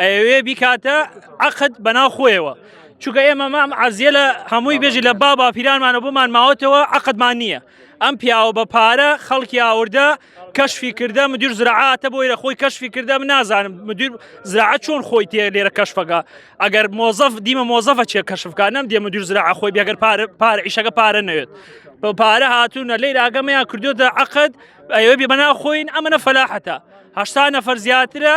ئەوێ بیکاتە عقد بەناو خۆیەوە چونکە ئێمە مام عزیە لە هەمووی بێژی لە با باپیرانمانە بۆمان ماوەتەوە عقدمان نییە ئەم پیاوە بە پارە خەڵکی ئاوردە کەشفی کردە مدیر زراعاتە بۆی لە خۆی کەشفی کردە من نازانم مدیر زراعە چۆن خۆی تێ لێرە کەشفەکە ئەگەر مۆزەف دیمە مۆزەفە چێ کەشفکە نەم دێ مدیر زراع خۆی بێگەر پارە پارە ئیشەکە پارە نەوێت بە پارە هاتوونە لەی راگەمیان کردوتە عقد ئەوێ بێ بەنا خۆین ئەمەە فەلاحەتە هەشتا نەفەر زیاترە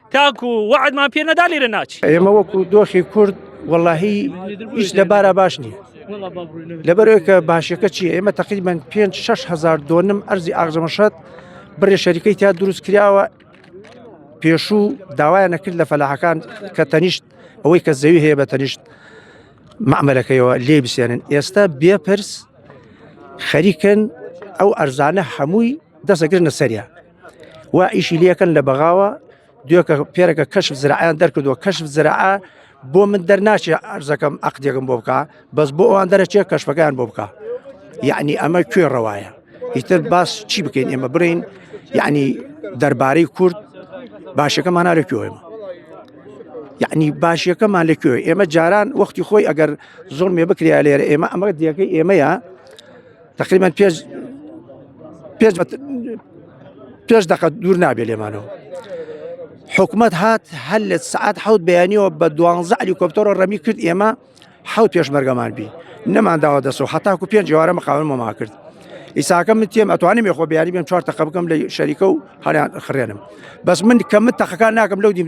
تاکو وعدمان پێ نەدا لێرە ناچی ئێمە وەکو دۆخی کورد واللهی هیچ لەبارە باش نییە لەبەرەوەکە باشەکە چی ئێمە تقریبان 5 هزار دۆنم ئەرزی ئاغزەمەشەت بڕێ شەریکەی تا دروست کراوە پێشوو داوایان نەکرد لە فەلاحەکان کە تەنیشت ئەوەی کە زەوی هەیە بە تەنیشت معمەلەکەیەوە لێ بسێنن ئێستا بێپرس خەریکن ئەو ئەرزانە هەمووی دەسەگرنە سەریا و ئیشی لەکەن لە بەغاوە دوێکە پێرەکە کەشف زراعیان دەرکردووە کەشف زراعە بۆ من دەرناچێ ئەرزەکەم عقدێکم بۆ بکە بەس بۆ ئەوان دەرەچێ کەشفەکان بۆ بکە یعنی ئەمە کوێ ڕەوایە ئیتر باس چی بکەین ئێمە برین یعنی دەربارەی کورد باشەکەمان لە کوێمە یعنی باشیەکەمان لە کوێ ئێمە جاران وەختی خۆی ئەگەر زۆر مێ بکریا لێرە ئێمە ئەمە دیەکەی ئێمەیە تقریبان پێش پێش پێش دەقە دوور نابێ لێمانەوە حکومت هات هەل لە سعات حوت بەیانیەوە بە دوانزە علی کۆپتەرۆ ڕەمی کرد ئێمە حوت پێشمەرگەمان بی نەمانداوە دەسەوە حتاکو پێنج جوارە مەقاون مەما کرد ئیساکە من تێم ئەتوانم یخۆ بیانی بێم چوار تەقە بکەم لە شەریکە و هەریان خرێنم بەس من کە من تەقەکان ناکەم لەو دیم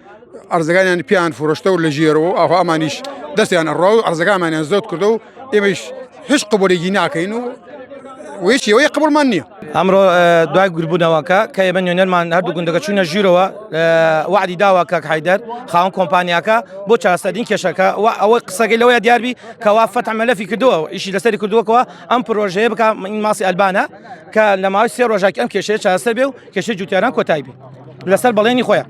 ئەرزەکانیان پیان فرۆشتە و لە ژێرەوە و ئاخوا ئەمانیش دەستیان ئەڕا و ئەرزەکانمانیان زۆت کردە و ئێمەش هیچ قبولێکی ناکەین و وێش ئەوەیە قبولمان نییە ئەمڕۆ دوای گربوونەوەکە کە ئێمە نوێنەرمان هەردوو گوندەکە چوونە ژیرەوە وعدی داوا کاک حیدەر خاوەن کۆمپانیاکە بۆ چاستەدین کێشەکە و ئەوە قسەکەی لەوەیە دیاربی کەوا فەتح مەلەفی کردووە ئیشی لەسەری کردووەکەوە ئەم پرۆژەیە بکە ماسی ئەلبانە کە لە ماوەی سێ ڕۆژاکی ئەم کێشەیە چاستە بێ و کێشەی جوتیاران کۆتای بێ لەسەر بەڵێنی خۆیان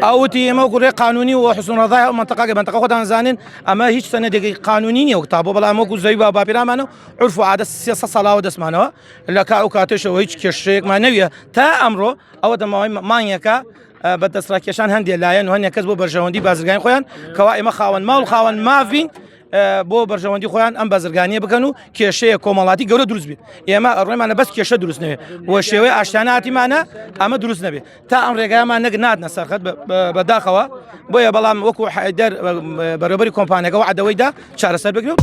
ئەوتی ئێمە گوڕێ قانونی و حسون ڕزای ئەو منتەقاگە بنتەقە خۆتان زانین ئەمە هیچ سەنەدێکی قانونی نیە وکتا بۆ بەڵام وەکو زەوی با باپیرامانە عرف و عادە سێ ساڵاوە دەستمانەوە لە کا و کاتێشەوە هیچ کێشەیەکمان نەویە تا ئەمڕۆ ئەوە دەماوەی مانگەکە بە دەستڕاکێشان هەندێک لایەن و هەندێک کەس بۆ بەرژەوەندی بازرگان خۆیان کەوا ئێمە خاوەن ماڵ خاوەن ماڤین بۆ بەرژەوەندی خۆیان ئەم بەزرگانیە بکەن و کێشەیە کۆمەڵاتی گەورە دروست بێت ئێمە ئەڕێمانە بەس کێشە دروست نوێ و شێوەی ئاشتاناتیمانە ئەمە دروست نەبێت تا ئەم ڕێگامان نەک ناتنە سەرخەت بەداخەوە بۆیە بەڵام وەکو حیدەر بەرەبەری کۆمپانەکە و عدەوەیدا چارەسەر بگرێت.